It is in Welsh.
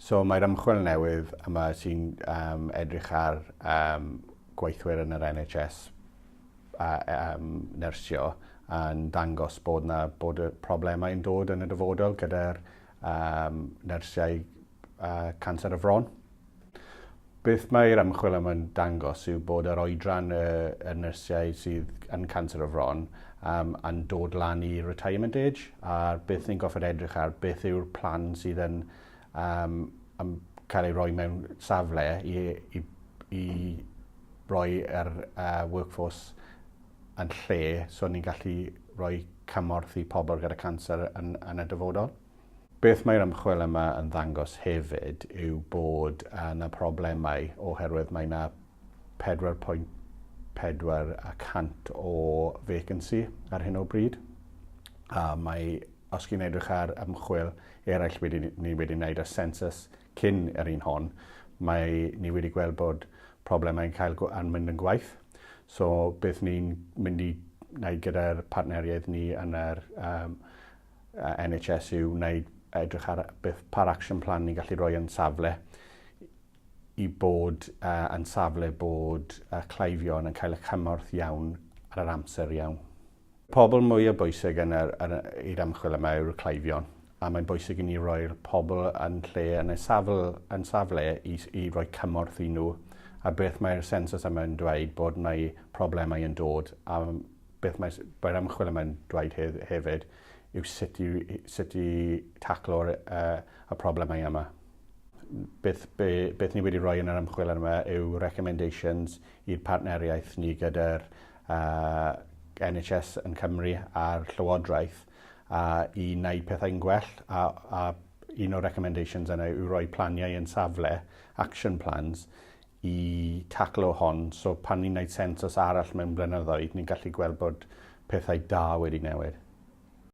So mae'r ymchwil newydd yma sy'n um, edrych ar um, gweithwyr yn yr NHS a, um, nyrsio yn dangos bod, na, bod y problemau yn dod yn y dyfodol gyda'r um, nersiau uh, canser y fron. Beth mae'r ymchwil yma'n dangos yw bod yr oedran y, y nersiau sydd yn canser y fron um, yn dod lan i retirement age a beth ni'n goffod edrych ar beth yw'r plan sydd yn um, um, cael ei roi mewn safle i, i, i roi yr uh, workforce yn lle so ni'n gallu rhoi cymorth i pobl gyda canser yn, yn y dyfodol. Beth mae'r ymchwil yma yn ddangos hefyd yw bod yna problemau oherwydd mae yna 4.4 y cant o vacancy ar hyn o bryd. A mae, os chi'n edrych ar ymchwil eraill wedi, ni wedi wneud ar census cyn yr un hon, mae ni wedi gweld bod problemau'n cael yn mynd yn gwaith. So beth ni'n mynd i wneud gyda'r partneriaid ni yn yr um, NHS yw wneud edrych ar beth par action plan ni'n gallu rhoi yn safle i bod uh, yn safle bod uh, cleifion yn cael y cymorth iawn ar yr amser iawn. Pobl mwyaf bwysig yn yr, yn i'r ymchwil yma yw'r cleifion, a mae'n bwysig i ni roi'r pobl yn lle, yn y safl, yn safle i, i roi cymorth i nhw, a beth mae'r sensws yma yn dweud bod mae problemau yn dod, a beth mae'r mae ymchwil yma yn dweud he, hefyd yw sut i, sut i taclo'r uh, y problemau yma beth, be, beth ni wedi rhoi yn yr ymchwil yma yw recommendations i'r partneriaeth ni gyda'r y NHS yn Cymru a'r Llywodraeth i wneud pethau'n gwell a un o'r recommendations yna yw rhoi planiau yn safle, action plans, i taclo hon. So pan ni'n wneud sensws arall mewn blynyddoedd, ni'n gallu gweld bod pethau da wedi newid.